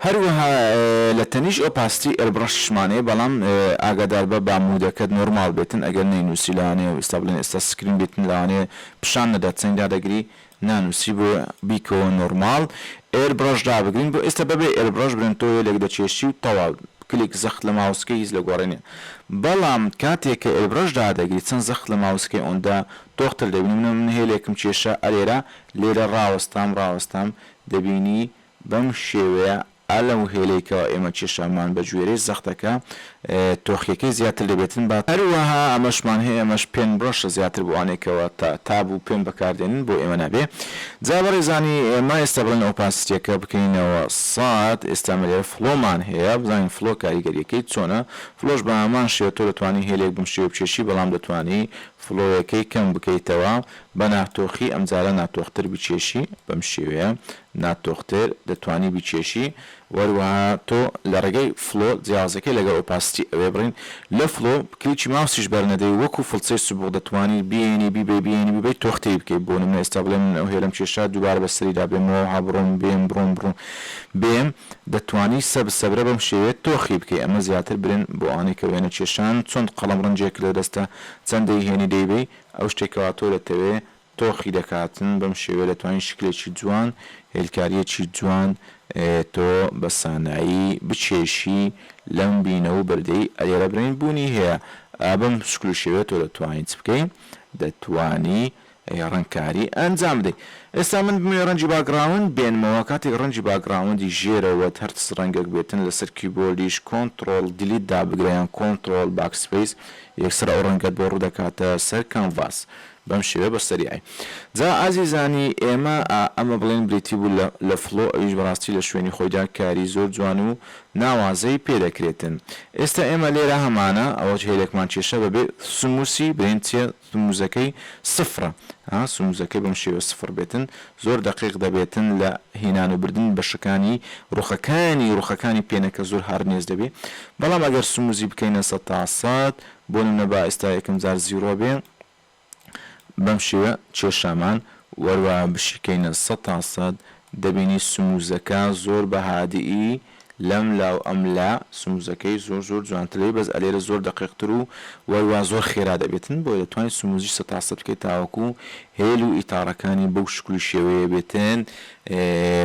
هەروەها لە تەنیش ئۆپاستی ئەربڕەشمانەیە بەڵام ئاگادار بە بامودەکەت نۆرمال بێتن ئەگەر نەینوسی لەوانەیە ئستا بڵێن ئێستا سکرین بێتن لەوانەیە پیشان نەدات چەنگا دەگری نانوسی بۆ بیکەوە نۆرماڵ ئێر برەش دابگرین بۆ ئێستا بەبێ ئێر برەش برێن تۆ هێلێک دەکێشی و تەواو کلیک زەخت لە ماوسکەی هیچ لە گۆڕێ نیە بەڵام کاتێک کە ئێر برەش دادەگری چەند زەخت لە ماوسکەی ئۆندا تۆخ تر دەبینی منە من هێلێکم کێشا ئەرێرە لێرە ڕاوەستام ڕاوەستام دەبینی بەم شێوەیە ئا لەم هێلەی کەوا ئێمە کێشامان بە گوێرەی زەختەکە تۆخیەکەی زیاتر لێبێتن با، هەروەها ئەمەشمان هەیە ئەمەش پێن برۆشە زیاتر بۆ ئەوانەی کەوا تا تاب و پێن بەکاردێنن بۆ ئێمە نابێ جا بەڕێزانی ئێمە ئێستا بڵێن ئۆپاسیتیەکە بکەینەوە سەد ئێستا ئێمە لێرە فڵۆمان هەیە بزانین فڵۆ کاریگەریەکەی چۆنە فڵۆش بە هەمان شێوە تۆ دەتوانی هێلێک بەم شێوەی بکێشی بەڵام دەتوانی فڵۆیەکەی کەم بکەیتەوە بە ناتۆخی ئەمجارە ناتۆختر بکێشی بەم شێوەیە نات دۆختر دەتوانی بیکێشی وەروەها تۆ لە ڕێگای فڵۆ جیاوازەکەی لەگەڵ ئۆپاسیتی ئەوێ بڕین لە فڵۆ کلیکی ماوسیش بەرنەدەی وەکو فڵچەی سبوغ دەتوانی بیێنی بیبەی بیێنی بیبەی تۆختەی بکەی بۆ نمونە ئێستا بڵێ من ئەو هێلەم کێشا دووبارە بەسەریدا بێم وەها بڕۆم بێم بڕۆم بڕۆم بێم دەتوانی سەب سەبرە بەم شێوەیە تۆخی بکەی ئەمە زیاتر برێن بۆ ئەوانەی کە وێنە کێشان چۆن قەڵەم ڕەنجێک لە دەستە چەند دەیهێنی دەیبەی ئەو شتەی کەوا تۆ دەتەوێ تۆخی دەکاتن بەم شێوەیە دەتوانیت شکلێکی جوان هێلکاریەکی جوان تۆ بە سانایی بکێشی لەم بینەوو بەردەی ئەرێ رەبرین بوونی هەیە ئا بەم شکل و شێوەیە تۆ دەتوانی چ بکەی دەتوانی رەنگکاری ئەنجام بدەی ئێستا من بمەوێ رەنگی باگڕاوند بێنمەوە کاتێک رەنگی باگڕاوندی ژێرەوەت هەر چ رەنگێک بێتن لەسەر کیبۆردیش کۆنتڕۆڵ دیلیت دابگرە یان کۆنتڕۆڵ باکسپەیس یەکسەر ئەو رەنگەت بۆ روودەکاتە سەر کانڤاس بەم شێوەیە بە سەریعی. جا ئازیزانی ئێمە ئا ئەمە بڵێن بریتی بوو لە لە فڵۆ ئەویش بەڕاستی لە شوێنی خۆیدا کاری زۆر جوان و ناوازەی پێ دەکرێتن. ئێستا ئێمە لێرە هەمانە ئەوە هێلێکمان کێشا بەبێ سموسی برێن چیە سموزەکەی سفڕە ها سموزەکەی بەم شێوە سفڕ بێتن زۆر دەقیق دەبێتن لە هێنان و بردن بەشەکانی ڕوخەکانی ڕوخەکانی پێنەکە زۆر هاڕنێس دەبێ بەڵام ئەگەر سموزی بکەینە سەد تا سەد بۆ نمونە با ئێستا یەکەم جار زیڕۆ بێ بەم شێوە چێشامان وەروا بشیکەینە سەد تا سەد دەبینی سموزەکە زۆر بە هادئی لەم لاو ئەم لا سموزەکەی زۆر زۆر جوانترەی بەس ئەلێرە زۆر دەقیق تر و وەروا زۆر خێرا دەبێتن بۆیە دەتوانی سموزیش سەد تا سەد بکەی تاوەکو هێل و ئیتاڕەکانی بەو شکل و شێوەیە بێتن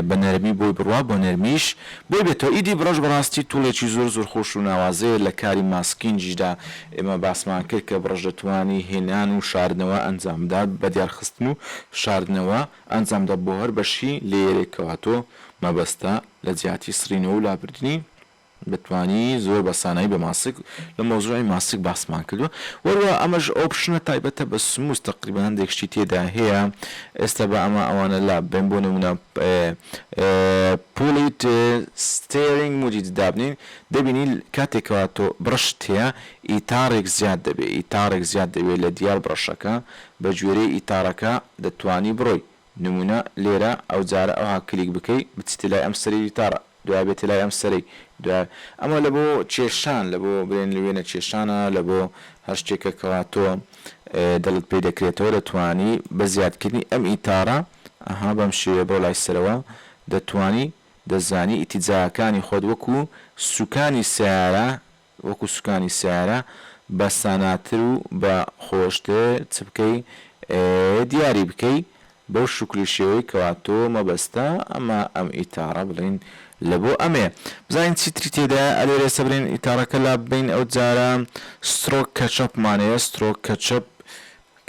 بە نەرمی بۆی بڕوا بۆ نەرمیش بۆی بێتەوە ئیدی بڕەش بەڕاستی توڵێکی زۆر زۆر خۆش و ناوازەیە لە کاری ماسکینجیشدا ئێمە باسمان کرد کە بڕەش دەتوانی هێنان و شاردنەوە ئەنجام بدات بە دیار خستن و شاردنەوە ئەنجام بدات بۆ هەر بەشی لەیەرێک کەواتۆ مەبەستە لە جیاتی سڕینەوە و لابردنی بتوانی زۆر بە سانایی بە ماسک لە مەوزوعی ماسک باسمان کردوە وەروە ئەمەش ئۆپشنە تایبەتە بە سموس تەقریبەن هەندێک شتی تێدا هەیە ئێستا بە ئەمە ئەوانە لا بێن بۆ نمونە پولیت ستێرینگ موجیت دابنین دەبینی کاتێکەوە تۆ بڕشت هەیە ئیتاڕێک زیاد دەبێ ئیتاڕێک زیاد دەبێ لە دیار بڕەشەکە بە گوێرەی ئیتاڕەکە دەتوانی بڕۆی نمونە لێرە ئەوجارە ئەوها کلیک بکەی بچیتە لای ئەم سەری وتارە دوای بێتە لای ئەم سەرەی دوای ئەمە لە بۆ کێشان لە بۆ برێن وێنە کێشانە لە بۆ هەر شتێکە کەوا تۆ دڵت پێی دەکرێتەوە دەتوانی بە زیادکردنی ئەم ئیتارە ئەها بەم شێوەیە بڕۆ لای سەرەوە دەتوانی دەزانی ئیتیجاکانی خۆت وەکو سوکانی سەیارە وەکو سوکانی سەیارە بە ساناتر و بە خۆشتر چ بکەی دیاری بکەی بەو شکلو شێوەی کەوا تۆ مەبەستە ئەمە ئەم ئیتاڕە بڵێین لە بۆ ئەمەیە بزانین چی تری تێدایە ئەلێرێ سەبرێن ئیتاڕەکە لاببەین ئەو جارە سترۆک کەچەپ مان هەیە سترۆک کەچەپ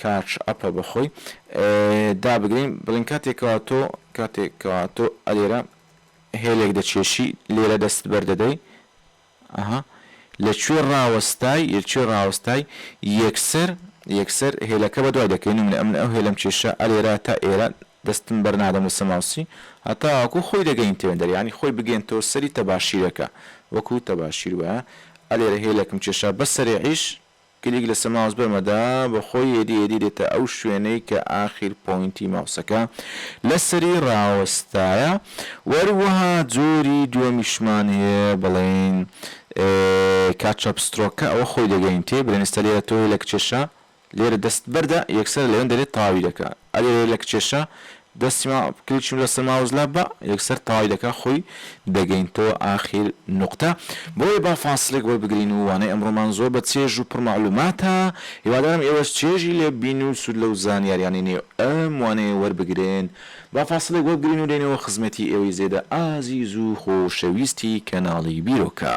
کاچ ئەپە بە خۆی دابگرین بڵین کاتێک کەوا تۆ کاتێک کەوا تۆ ئەلێرە هێلێک دەچێشی لێرە دەست بەردەدەی ئەها لە کوێ ڕاوەستای لە کوێ ڕاوەستای یەکسەر یەکسەر هێلەکە بەدوای دەکەین من من ئەو هێلەم کێشا ئەرێرا تا ئێرە دەستم بەر نادەم لەسەر ماوسی هەتاوەکو خۆی دەگەینتەوێ دەرێ یانی خۆی بگەینتەوە سەری تەباشیرەکە وەکو تەباشیر وایە ئەرێرە هێلەکم کێشا بە سەرێعیش کلیک لەسە ماوس بەمەدا بەخۆی ئێدی ئێدی دێتە ئەو شوێنەی کە ئاخیر پۆینتی ماوسەکە لەسەری ڕاوەستایە وەروەها جۆری دووەمیشمان هەیە بڵێین کاتچاپ سترۆک کە ئەوە خۆی دەگەین تێ بلێن ئێستا لێرە تۆ هەی لە کچێشە لێرە دەست بەردە یەکسەر لەوێن دەرێت تەواوی دەکا ئەلێرە لە کچێشە دەستی ما کلچم لەسەر ماوس لا بە یەکسەر تەواوی دەکا خۆی دەگەینتەوە ئاخیر نوقتە بۆیە با فاسڵێک وەربگرین و وانەی ئەمڕۆمان زۆر بە چێژ و پڕ مەعلوماتە هیوادارم ئێوەش چێژی لێ ببین و سود لەو زانیاریانەی نێو ئەم وانەیە وەربگرن با فاسڵێک وەربگرین و دێینەوە خزمەتی ئێوەی زێدە ئازیز و خۆشەویستی کەناڵی بیرۆکە.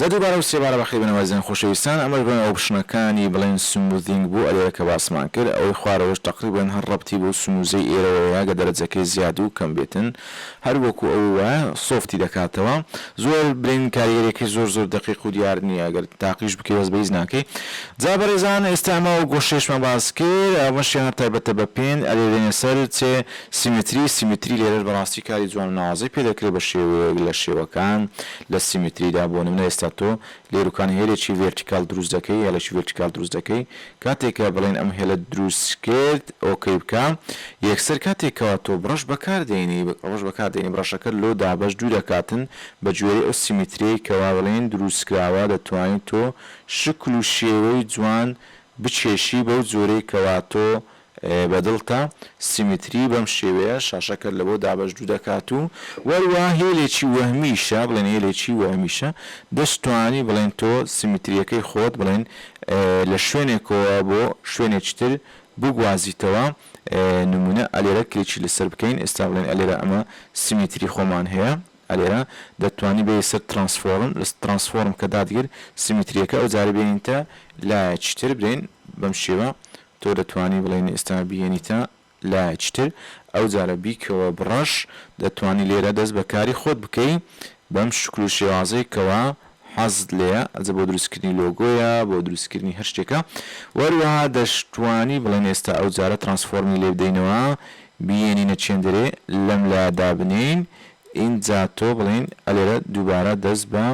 جا دووبارە و سێبارە بەخێر بێنەوە ئازیزانی خۆشەویستان ئەمەش بۆ ناو ئۆپشنەکانی بڵێن سمووزینگ بوو ئەلێرە کە باسمان کرد ئەوەی خوارەوەش تەقریبەن هەر ڕەبتی بەو سمووزەی ئێرەوەیە ئەگەر دەرەجەکەی زیاد و کەم بێتن هەر وەکوو ئەوەی وایە سۆفتی دەکاتەوە زۆر بلین کاریگەریەکەی زۆر زۆر دەقیق و دیار نییە ئەگەر تاقیش بکەی بەس بە هیچ ناکەی جا بەڕێزان ئێستا ئەمە ئەو گۆشەیەشمان باس کرد ئەمەشیان هەر تایبەتە بە پێن ئەلێرێنە سەر چێ سیمتری، سیمتری لێرەش بەڕاستی کاری جوان و ناوازەی پێ دەکرێ بە شێوەیەک لە شێوەکان لە سیمتریدا بۆ نمونە ئێستا تۆ لێروکان هێلێکی ڤێرتیکاڵ دروست دەکەی هێڵێکی ڤێرتیکاڵ دروست دەکەی کاتێک کە بڵێن ئەم هێلەت دروست کرد ئۆکەی بکە یەکسەر کاتێک کەوا تۆ بڕەش بەکار دێنی ڕەش بەکار دێنی بڕەشەکەت لۆ دابەش دوو دەکاتن بە گوێرەی ئەو سیمتریەی کەوا بڵێن دروست کراوە دەتوانی تۆ شکل و شێوەی جوان بکێشی بەو جۆرەی کەوا تۆ بە دڵتە سیمتری بەم شێوەیە شاشەکەت لە بۆ دابەش دوو دەکات و وەروا هێلێکی وەهمیشە بڵێن هێلێکی وەهمیشە دەشتوانی بڵێن تۆ سیمتریەکەی خۆت بڵێن لە شوێنێکەوە بۆ شوێنێکی تر بگوازیتەوە نمونە ئەلێرە کلێکی لەسەر بکەین ئێستا بڵێن ئەلێرە ئەمە سیمتری خۆمان هەیە ئەلێرە دەتوانی بێی سەر ترانسفۆرم لە ترانسفۆرم کە دادگر سیمتریەکە ئەو جارە بێنینتە لایەکی تر برێن بەم شێوە تۆ دەتوانی بڵێی نئستا بیێنیتە لایەکی تر ئەوجارە بیکەوە بڕەش دەتوانی لێرە دەست بە کاری خۆت بکەی بەم شکل و شێوازەی کەوا حەزت لێیە ئەجە بۆ دروست کردنی لۆگۆیە بۆ دروست کردنی هەر شتێکە وە هەروەها دەشتوانی بڵێن ئێستا ئەوجارە ترانسفۆرمی لێ بدەینەوە بیێنینە چێندەرێ لەم لایە دابنێین ئینجا تۆ بڵێین ئەلێرە دووبارە دەست بە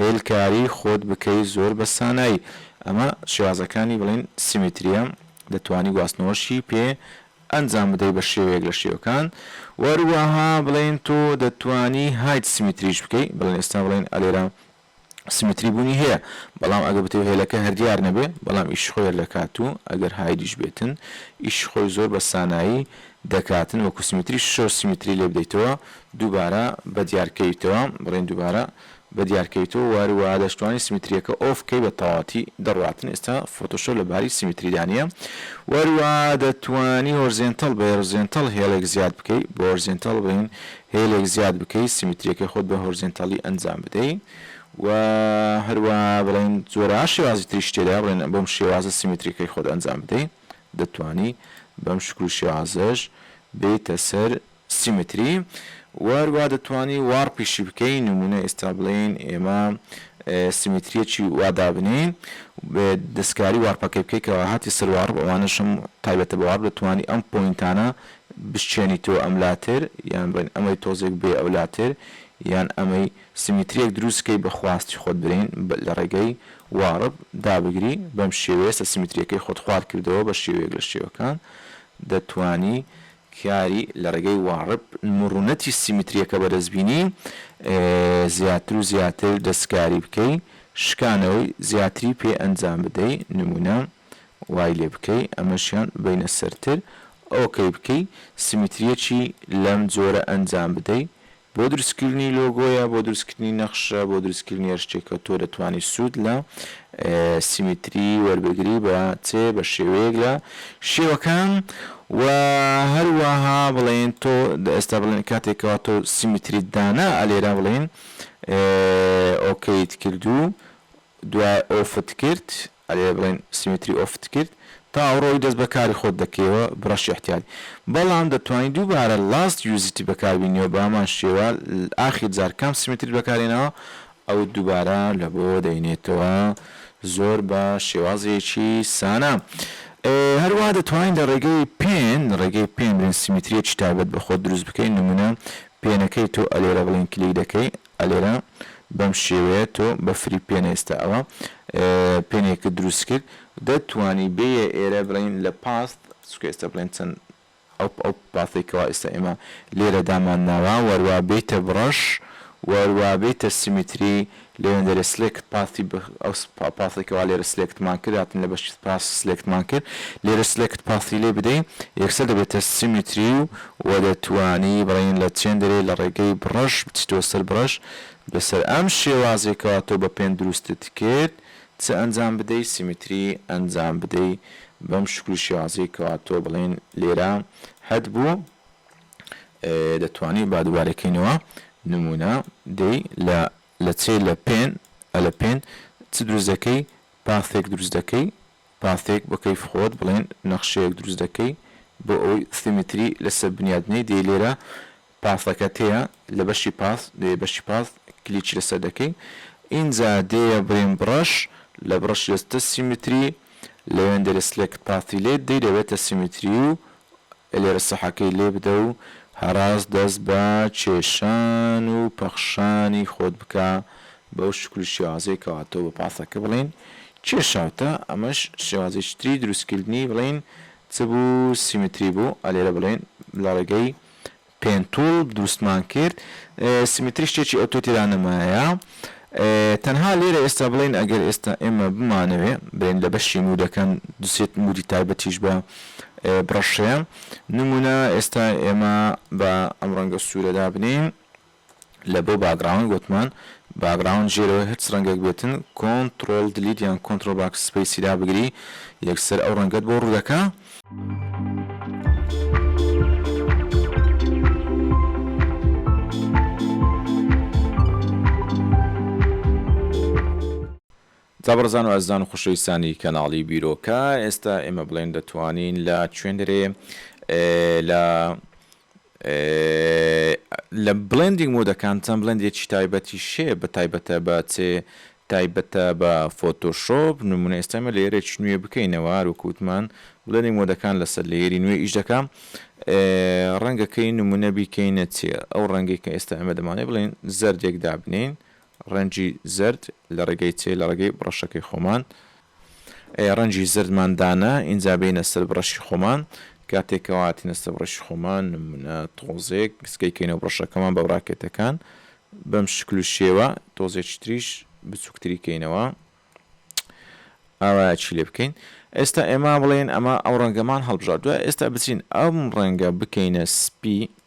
هێلکاری خۆت بکەی زۆر بە سانایی ئەمە شێوازەکانی بڵێین سیمیتریە دەتوانی گواستنەوەشی پێ ئەنجام بدەی بە شێوەیەک لە شێوەکان وەروەها بڵێین تۆ دەتوانی هایت سیمیتریش بکەی بڵێن ئێستا بڵێن ئەلێرە سیمتری بوونی هەیە بەڵام ئەگەر بتەوێت هێلەکە هەر دیار نەبێت بەڵام ئیشی خۆی هەردەکات و ئەگەر هایدیش بێتن ئیشی خۆی زۆر بە سانایی دەکاتن وەکو سیمتری شەو سیمتری لێ بدەیتەوە دووبارە بە دیار کەویتەوە بڵێن دووبارە بە دیار کەویتەوە وار و وا دەشتوانی سیمتریەکە ئۆف کەی بە تەواوەتی دەڕواتن ئێستا فۆتۆشۆپ لە باری سیمتری دانیە وار و وا دەتوانی هۆرزێنتەڵ بە هۆرزێنتەڵ هێڵێک زیاد بکەی بە هۆرزێنتەڵ بین هێلێک زیاد بکەی سیمیتریەکەی خۆت بە هۆرزێنتاڵی ئەنجام بدەی و هەروەها بڵێین جۆرە شێوازی تریش تێدایە بڵێن بەم شێوازە سیمیتریەکەی خۆت ئەنجام بدەی دەتوانی بەم شکل و شێوازەش بێیتە سەر سیمیتری و هەروەها دەتوانی واڕپیشی بکەی نمونە ئێستا بڵێین ئێمە سیمیتریەکی وا دابنێین دەستکاری واڕپەکەی بکەی کەوا هاتی سەر واڕپ ئەوانەشم تایبەتە بە واڕپ دەتوانی ئەم پۆینتانە بشچێنی تۆ ئەم لاتر یان بڵێین ئەمەی تۆزێک بێ ئەو لاتر یان ئەمەی سیمیتریەک دروست کەی بە خواستی خۆت برین لە ڕێگەی وارب دابگری بەم شێوەیە سە سیمیتریەکەی خۆت خوار کردەوە بە شێوەیەک لە شێوەکان دەتوانی کاری لە ڕێگەی وارب مڕونەتی سیمیتریەکە بەدەست بینی زیاتر و زیاتر دەستکاری بکەی شکانەوەی زیاتری پێ ئەنجام بدەی نمونە. وای لێ بکەی ئەمەشیان ببەینە سەرتر ئۆکەی بکەی سیمیتریەکی لەم جۆرە ئەنجام بدەی بۆ دروستکردنی لۆگۆیە بۆ دروستکردنی نەخشە بۆ دروستکردنی هەر شتێکە تۆ دەتوانی سوود لە سیمیتری وەربگری بە چ بە شێوەیەک لە شێوەکان و هەروەها بڵێن تۆ ئێستا بڵێن کاتێکەوە تۆ سیمیتریت دانا ئەلێرا بڵێن ئۆکەیت کردو دوای ئۆفت کرد، ئەرێ بڵێن سیمێتری ئۆفت کرد، تا ئەوڕۆی دەست بە کاری خۆت دەکەیەوە بڕەشی احتیاری بەڵام دەتوانی دووبارە لاست یوزتی بەکاربینیەوە بە هەمان شێوە ئاخیر جار کام سیمێتریت بەکارهێناوە ئەوت دووبارە لەبۆ دەینێتەوە زۆر بە شێوازێکی سانا هەروا دەتوانی لە ڕێگەی پێن لە ڕێگەی پێن برێن سیمێتریەکی تایبەت بە خۆت دروست بکەی نمونە پێنەکەی تۆ ئەلێرە بڵێن کلیک دەکەی ئەلێرە بەم شێوەیە تۆ بە فریو پێنە ئێستا ئەوە پێنێکت دروست کرد دە توانی بێیە ئێرە بڵین لە پاست چکە ئێستا بڵێن چەند ئەو ئەو پاسەی کەوا ئێستا ئێمە لێرە دامان ناوە وەروا بێیتە بڕەش وەروا بێیتە سیمیتری لێوێن دەرێ سلێکت پاسی ئەو پاسەی کەوا لێرە سلێکتمان کرد هاتن لە بەشی پاس سلێکتمان کرد لێرە سلێکت پاسی لێ بدەین یەکسەر دەبێتە سیمیتری و وە دەتوانی بڵێین لە چێن دەرێ لە ڕێگەی بڕەش بچیتەوە سەر بڕەش لەسەر ئەم شێوازەی کەوا تۆ بە پێن دروستت کرد چ ئەنجام بدەی سیمیتری ئەنجام بدەی بەم شکل و شێوازەی کەوا تۆ بڵێین لێرە هەت بوو دەتوانی با دوبارە کەینەوە نمونە دەی لە لە چێ لە پێن ئە لە پێن چ دروست دەکەی پاثێک دروست دەکەی پانتێک بە کەیف خۆت بڵێن نەخشەیەک دروست دەکەی بۆ ئەوەی سیمتری لەسەر بنیات بنێی دەی لێرە پاسەکەت هەیە لە بەشی پاس دەی بەشی پاس کلیکی لەسەر دەکەی ئینجا دێیە برێن بڕەش لە بڕەش دەچتە سیمتری لەوێن دەرێ سلێکت پاسی لێت دەی دەبێتە سیمتری و لێرە سەحەکەی لێ بدە و هەراز دەست بە کێشان و پەخشانی خۆت بکە بەو شکل و شێوازەی کەوا تۆ بە پاسەکە بڵێین کێشاوتە، ئەمەش شێوازێکی تری دروستکردنی بڵێین چ بوو سیمتری بوو، ئەلێرە بڵێین لە ڕێگەی پێنتوڵ دروستمان کرد سیمتری شتێکی ئەوتۆ تێدا نەمایە تەنها لێرە ئێستا بڵێن ئەگەر ئێستا ئێمە بمانەوێ بێن لە بەشی مودەکەن دوسێت مودی تایبەتیش بە بڕەشەیە نمونە ئێستا ئێمە بە ئەم ڕەنگە سوورە دابنێین لە بۆ باکگراوند وتمان باکگراوند ژێرەوەی هەرچ ڕەنگەک بێتن کۆنتڕۆڵ دلیت یان کۆنتڕۆڵ باک سپەیسی دابگری یەکسەر ئەو ڕەنگەت بۆ ڕوودەکا. جا بەڕێزان و ئەزیزان و خۆشەویستانی کەناڵی بیرۆکە ئێستا ئێمە بڵێن دەتوانین لە چوێندەرێ لە لە بلێندینگ مودەکان چەند بلێندێکی تایبەتیش هەیە بە تایبەتە بە چێ تایبەتە بە فۆتۆشۆپ نمونە ئێستا ئێمە لەیەرێکی نوێ بکەینەوە هەروەک وتمان بلێندینگ مۆدەکان لەسەر لەیەری نوێ ئیش دەکا ڕەنگە کەی نمونە بیکەینە چێ ئەو ڕەنگی کە ئێستا ئێمە دەمانێ بڵێن زەردێک دابنین ڕەنجی زەرد لە ڕێگەی چێ لە ڕێگەی بڕەشەکەی خۆمان ئەی ڕەنجی زەردمان دانا ئینجا بێینە سەر بڕەشی خۆمان کاتێک کەوا هاتینە سەر بڕەشی خۆمان نمونە تۆزێک سکەی کەینەوە بڕەشەکەمان بە براکێتەکان بەم شکل و شێوە تۆزێکی تریش بچووکتری کەینەوە ئاوا چی لێ بکەین ئێستا ئێمە بڵێن ئەمە ئەو ڕەنگەمان هەڵبژار دوای ئێستا بچین ئەم ڕەنگە بکەینە سپی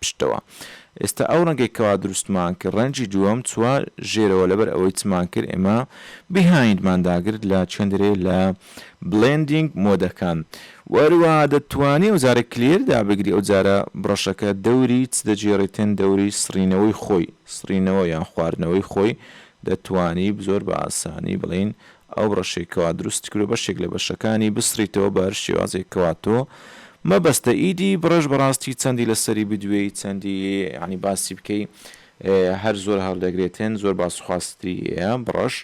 پشتەوە ئێستا ئەو ڕەنگەی کەوا دروستمان کرد ڕەنگی دووەم چوە ژێرەوە لەبەر ئەوەی چمان کرد ئێمە Behind مان داگرت لە چێندرێ لە Blending مۆدەکان وە هەروەها دەتوانی ئەو جارە Clear دابگری ئەو جارە بڕەشەکە دەوری چ دەگێڕیتن دەوری سڕینەوەی خۆی سڕینەوە یان خواردنەوەی خۆی دەتوانی زۆر بە ئاسانی بڵێین ئەو ڕەشەی کەوا دروستی کردوە بەشێک لە بەشەکانی بسڕیتەوە بە هەر شێوازێک کەوا تۆ مەبەستە ئیدی بڕێژ بەڕاستی چەندی لەسەری بدوێی چەندی یەعنی باسی بکەی هەر زۆر هەڵدەگرێتێن زۆر باس خواستری یە بڕەش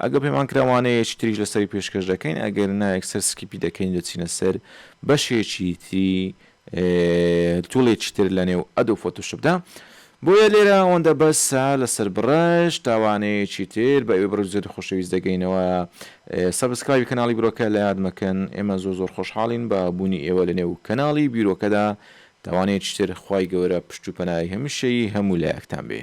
ئەگە پێمان کرا وانە یەکی تریش لەسەری پێشکەش دەکەین ئەگەر نا یەکسەر سکیپی دەکەین دەچینە سەر بەشێکی تری تولێکی تر لەنێو ئەدۆب فۆتۆشۆپدا بۆیە لێرە ئەوەندە بەسە لەسەر بڕەش تا وانەیەکی تر بە ئێوەی بڕۆک زۆری خۆشەویست دەگەینەوە سەبسکرایبی کەناڵی بیرۆکە لە یاد مەکەن ئێمە زۆر زۆر خۆشحاڵین بە بوونی ئێوە لەنێو کەناڵی بیرۆکەدا تا وانەیەکی تر خوای گەورە پشت و پەنای هەمیشەیی هەموو لایەکتان بێ.